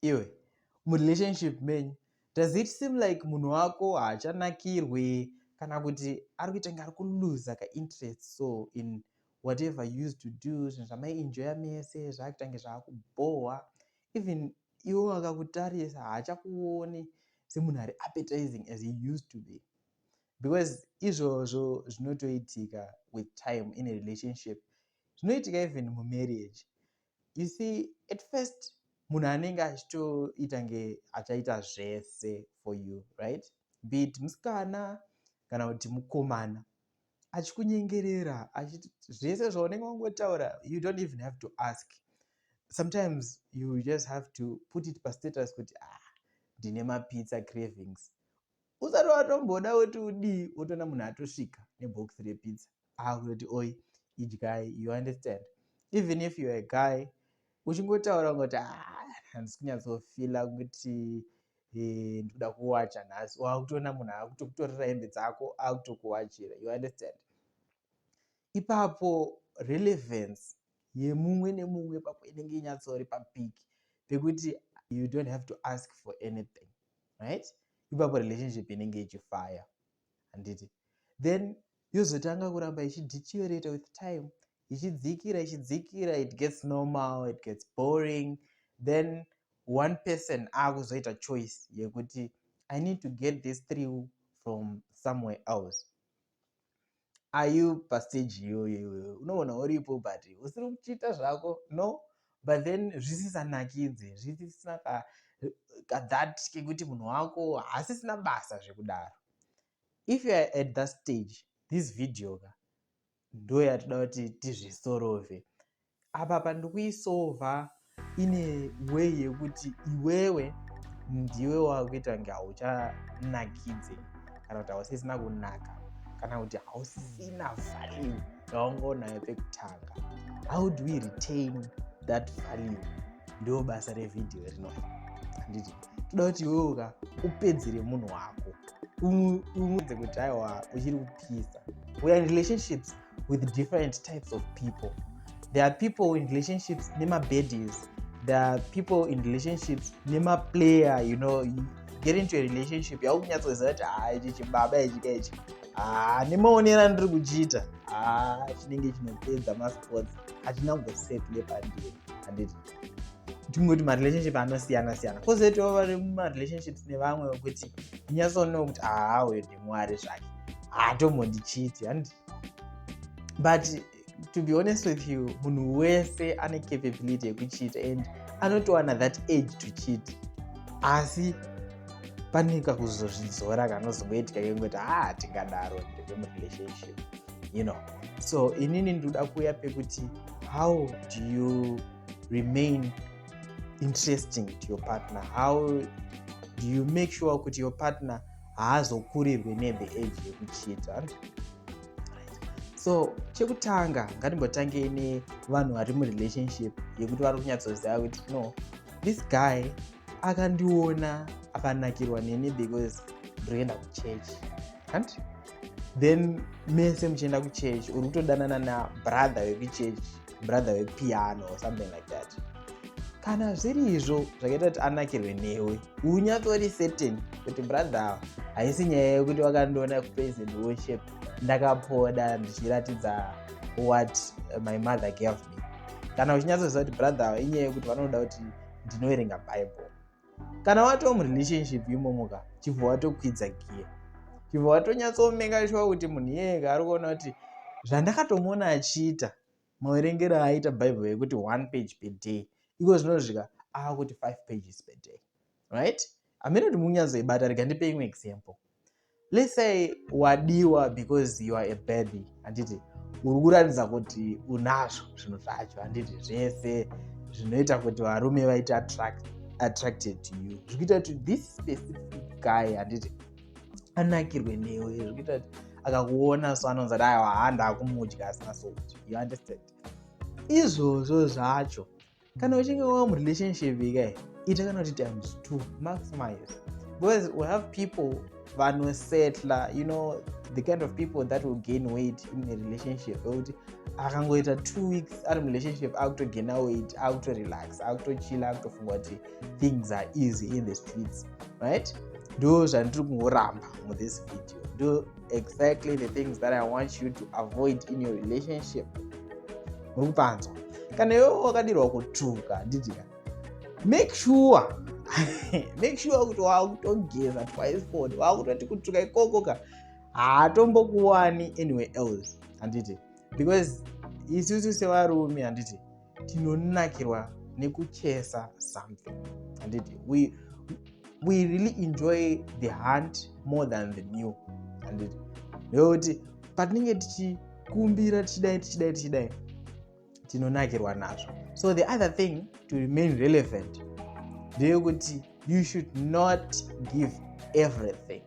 iwe murelationship menyu does it seem like munhu wako haachanakirwe kana kuti ari kuita kunge ari kuluza kainterest so in whatever used to do zvinhu zvamainjoya mese zvaakuita kunge zvaakubhohwa even iwo akakutarisa haachakuoni semunhu ari appetizing as he used to be because izvozvo zvinotoitika with time in a relationship zvinoitika even mumarriage you see at first munhu anenge achitoita nge achaita zvese for you right bit musikana kana kuti mukomana achikunyengerera achiti zvese zvaunenge wangotaura you don't even have to ask sometimes you just have to put it pastatus kuti ah ndine mapizza cravings usati watomboda woti udii wotoona munhu atosvika nebox repizza akutoti ah, oi idyai you understand even if youare a guy uchingotaura ungoti ah, handisi kunyatsofila kuti eh, ndikuda kuwacha nhasi wakutoona munhu akutokutorera hembe dzako akutokuwachira you understand ipapo relevance yemumwe nemumwe ipapo inenge inyatsori papiki pekuti you don't have to ask for anything right ipapo relationship inenge ichifaya handiti then yozotanga kuramba ichideteriorate with time ichidzikira ichidzikira it gets normal it gets boring then one person akuzoita choice yekuti i need to get this through from somewhere else are you pastage iyoyo iwewe unoona uripo but usiri kuchiita zvako no but then zvisisanakidze zvisisina kathat kekuti munhu wako haasisina basa zvekudaro if you are at that stage this video ka ndo yatida kuti tizvisorove Apa pandikuisolva ine way yekuti iwewe ndiwe wakuita kunge hauchanakidze kana kuti hausisina kunaka kana kuti hausisina value yawangonayo pekutanga how do we retain that value ndo basa revhidhiyo rino handiti toda kuti iweuka upedzere munhu wako uudze kuti aiwa uchiri kupisa weare relationships with different types of people there are people in relationships nemabaddies there are people in relationships nemaplayer you know you get into a relationship yakunyatsoziva kuti haa ah, ichi chibaba ichi ka ichi haa ah, nemaonero andiri kuchiita haa ah, chinenge chinopedza masports hachina kusettle pandiri handiti tingoti marelationship anosiyana siyana kozoitawo vari mumarelationships nevamwe vekuti ndinyatsoonao kuti haa uyo ndimwari zvake haatombondichiti handi but to be honest with you munhu wese ane capability yekuchita and anotowana that age to cheat asi pane kakuzozvidzora kanozongoitika kekungoti haa tingadaro ndiri murelationship you know so inini ndinoda kuuya pekuti how do you remain interesting to your partner how do you make sure kuti your partner haazokurirwe nebe age yekuchita so chekutanga ngatimbotangei nevanhu vari murelationship yekuti vari kunyatsoziva kuti no this guy akandiona akanakirwa neni because ndiri kuenda kuchechi hanti then mese muchienda kuchechi uri kutodanana nabrother wekuchechi brother wepiano or something like that kana zviri izvo zvakaita kuti anakirwe newe unyatsori certain kuti brother ava haisi nyaya yekuti wakandiona kupraise and worship ndakapoda ndichiratidza what my mother gave me kana uchinyatsoziva kuti brother ava inyaya yekuti vanoda kuti ndinoverenga bible kana watoo murelationship imomoka chibva watokwidza giya chibva watonyatsoomeka shuwa kuti munhu iyeye kaari kuona kuti zvandakatomuona achiita maverengero aaita bible yekuti one page per day iko zvinozvika ava kuti five pages per day right amene kuti munyatsoibata rega ndipe imwe example let's say wadiwa because you are a baby handiti uri kuratidza kuti unazvo zvinhu zvacho handiti zvese zvinoita kuti varume vaite attract, attracted to you zviri kuita kuti this specific guy handiti anakirwe newe zviri kuita kuti akakuona so anonzi dai wahanda akumudya asina sokuti you understand izvozvo zvacho kana uchinge wava murelationship ikai ita kana kuti times two maximize because we have people vanosetla you know the kind of people that will gain weight in a relationship vekuti akangoita two weeks ari murelationship akutogena weight akutorelax akutochila akutofunga kuti things are easy in the streets right ndo zvandiri kungoramba muthis video ndo exactly the things that i want you to avoid in your relationship muri kupanzwa kana iwe wakadirwa kutuka nditika make sure make sure kuti waakutogeza twice fod waakutoti kutuka ikoko ka haatombokuwani anywhere else handiti because isusu sevarume handiti tinonakirwa nekuchesa something handiti we, we really enjoy the hunt more than the new handiti nekuti patinenge tichikumbira tichidai tichidai tichidai tinonakirwa nazvo so the other thing to remain relevant ndeyekuti you should not give everything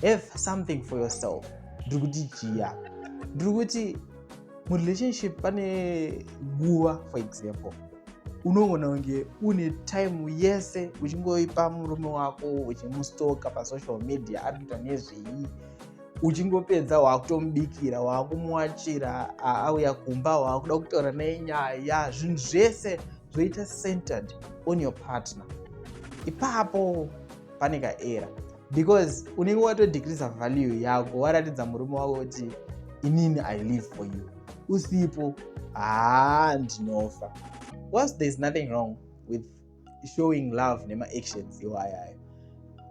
have something for yourself ndiri kuti jiya ndiri kuti murelationship pane nguva for example unogona kunge une time yese uchingoipa murume wako uchimustoka pasocial media ari kuita nezvei uchingopedza waakutomubikira waakumuwachira auya kumba waakuda kutaura naye nyaya zvinhu zvese zvoita centered on your partner ipapo pane kaera because unenge watodecreasa value yako waratidza murume wako kuti inini i live for you usipo haa ndinofa whilst thereis nothing wrong with showing love nemaactions iwayayo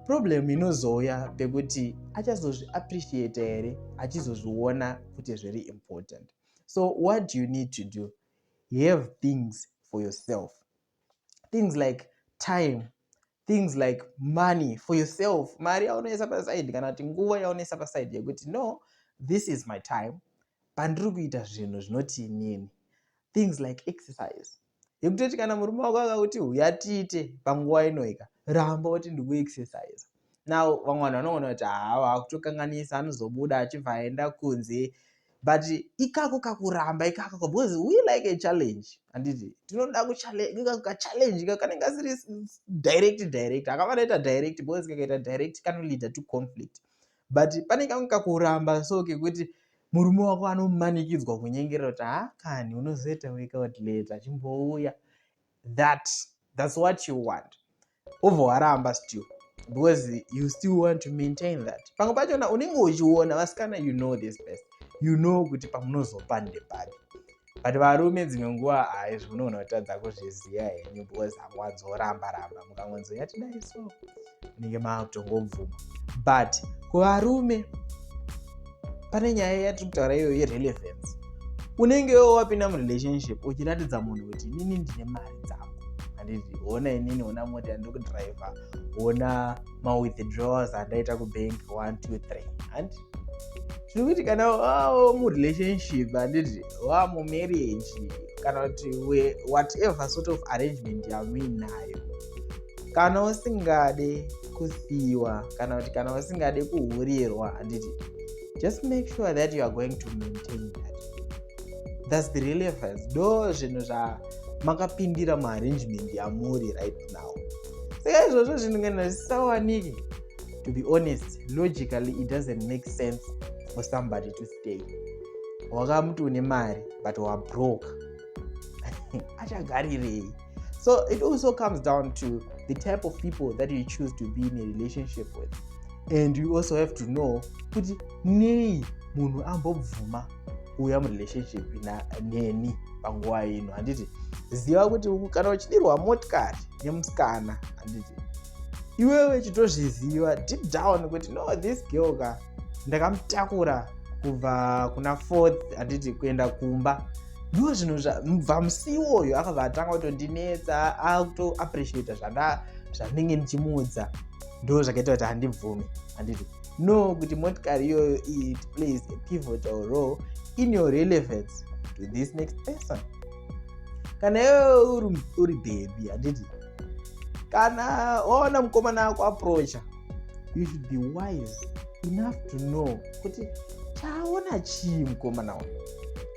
problem inozouya pekuti achazozviappreciata here achizozviona kuti zviri important so what you need to do you have things for yourself things like time things like money for yourself mari yaunoisa paside kana kuti nguva yaunoisa paside yekuti no this is my time pandiri kuita zvinhu zvinoti inini things like exercise yekutoti kana murume wako akakuti huya tiite panguva inoika ramba kuti ndikuexercise now vamwe vanhu vanoona kuti haa vakutokanganisa anozobuda achibva aenda kunze but ikako kakuramba ikako because we like a challenge handiti tinoda kuchallenge ka kanenge asiri direct direct akava noita direct because kakaita direct kanoleader to conflict but pane kamwe kakuramba so kekuti murume wako anomanikidzwa kunyengerera kuti haa kani unozoita weka kuti leta chimbouya that that's what you want obva waramba still because you still want to maintain that pamwe pachona unenge uchiona vasikana you know this best you know kuti pamunozopa ndepapi but varume dzimwe nguva hayi zvimunoona kutadza kuzviziva henyu because hamuwadzoramba ramba mukangonzoya tidai so munenge maakutongobvuma but kuvarume pane nyaya yatiri kutaura iyoyo yerelevance unenge wo wapinda murelationship uchiratidza munhu kuti inini ndine mari dzangu handiti hona inini hona moti andikudriver hona mawithdrawals andaita kubank 123 handi tiri kuti kana wavo murelationship handiti wa mumarriage kana kuti whatever sort of arrangement yamuinayo kana usingade kusiiwa kana kuti kana usingade kuhurirwa handiti just make sure that you are going to maintain that thats the relevance do zvinhu zvamakapindira muarrangement yamuri right now saka izvozvo zvinhu kana zvisawanike to be honest logically it doesn't make sense for somebody to stay wakamuti une mari but wabroke achagarirei so it also comes down to the type of people that you choose to be in a relationship with and you also have to know kuti nei munhu ambobvuma kuuya murelationship neni panguva ino handiti ziva kuti kana uchidirwa motikari nemusikana handiti iwewe chitozviziva deep down kuti no this girl ka ndakamutakura kubva kuna fourth handiti kuenda kumba ndiwo zvinhu zvamusi iwoyo akabva atanga kutondinetsa akuto appreciata zvandinenge ndichimuudza ndo zvakaita kuti handibvume handiti no kuti motikari iyoyo it plays a pivotal role in your relevance to this next person kana iyoyo uri bhebhi handiti kana waona mukomana ako aprocha you should be wise enough to know kuti chaona chii mukomana uyu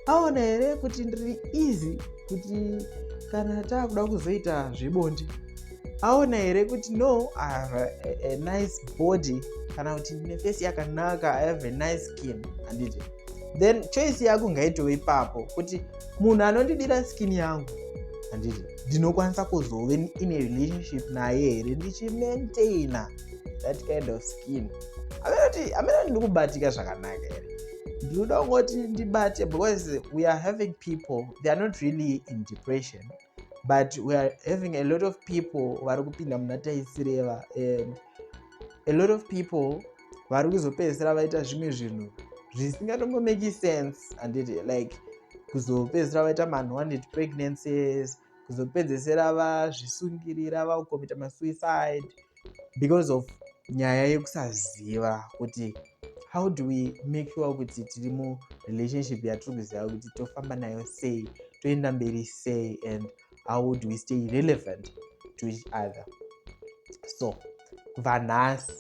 aona here kuti ndiri easy kuti kana taakuda kuzoita zvebondi aona here kuti no i have a, a, a nice body kana kuti ndine fesi yakanaka i have a nice skin handiti then choice yako ngaitove ipapo kuti munhu anondidira skin yangu handiti ndinokwanisa kuzove in a relationship naye here ndichimaintaina that kind of skin amenoti amene ndiri kubatika zvakanaka here ndinoda kungoti ndibate because we are having people they are not really in depression but we are having a lot of people vari kupinda muna taisireva and a lot of people vari kuzopedzisira vaita zvimwe zvinhu zvisingatombomeki sense handiti like kuzopedzisira vaita manhoned pregnancies kuzopedzesera vazvisungirira vakukomita masuicide because of nyaya yekusaziva kuti how do we make sure kuti tiri murelationship yatiri kuziva kuti tofamba nayo sei toenda mberi sei and how would we stay relevant to each other so kubva nhasi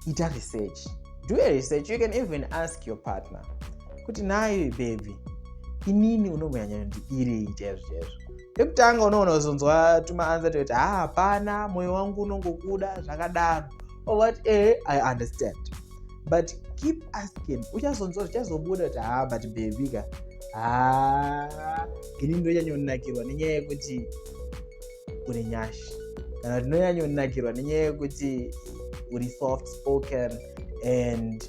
ita research do a research you can even ask your partner kuti naye bebi inini unombonyanya ndibirei chaizvo chaizvo yekutanga unoona uzonzwa tumaansa tokuti ha hapana mwoyo wangu unongokuda zvakadaro owat oh, e i understand but keep asking uchazonzwa zvichazobuda kuti ha but bebi ka ha ini ndinonyanyonakirwa nenyaya yekuti une nyasha kana kuti ndinonyanyonakirwa nenyaya yekuti uri soft spoken and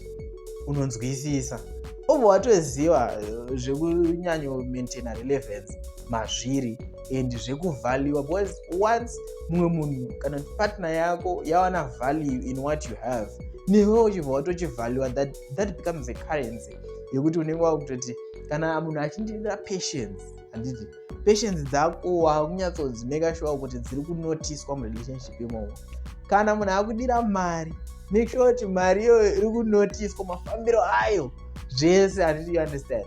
unonzwisisa obva watoziva eh, zvekunyanyo maintaina relevance mazviri and zvekuvhaliwa because once mumwe munhu kana partner yako yawana value in what you have newe uchibva watochivhaliwa that, that becomes a currency yekuti unenge wakutoti kana munhu achindirira patience handiti patience dzako wakunyatsodzimeka shuwa kuti dziri kunotiswa murelationship imomo kana munhu akudira mari make sure kuti mari iyoyo iri kunotiswa mafambiro ayo zvese handiti you understand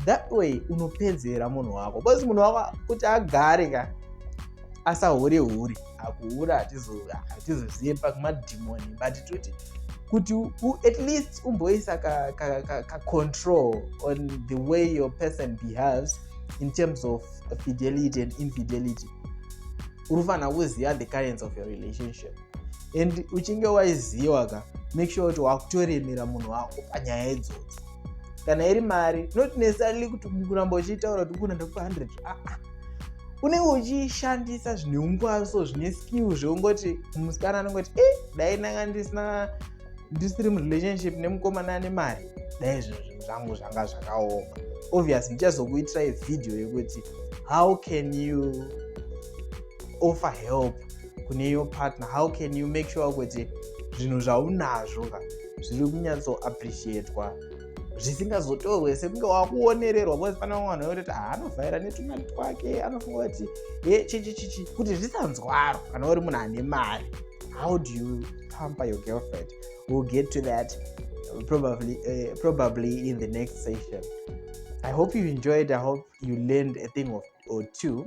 that way unopedzera munhu wako because munhu wako kuti agare ka asahure hure akuhura hatizozive pamadhimoni but toti kuti at least umboisa kacontrol ka, ka, ka on the way your person behaves in terms of fidelity and infidelity unofanira kuziva the currents of your relationship and uchinge waiziwa ka make sure kuti wakutoremera munhu wako panyaya idzodzi kana iri mari not necessarily kuti kuramba uchiitaura kuti kuna ndakupa 100 aa ah, ah. unenge uchishandisa zvine ungwaru so zvine skill zveungoti musikana anongoti e eh, dai ndanga ndisina ndisiri murelationship nemukomana ane mari dai zvinhu zvinhu zvangu zvanga zvakaoma obvious ndichazokuitirai vhidhiyo yekuti how can you offer help kune your partner how can you make sure kuti zvinhu zvaunazvo ka zviri kunyatsoappreciatwa zvisingazotorwe sekunge wakuonererwa bcause pana vamwe vanhu vakuti ah, anovhaira netumari twake anofunga kuti he chichichichi kuti zvisanzwaro kana uri munhu ane mari how do you pamper your girlfriend we'll get to that probably, uh, probably in the next session i hope you enjoyed i hope you learned a thing of, or two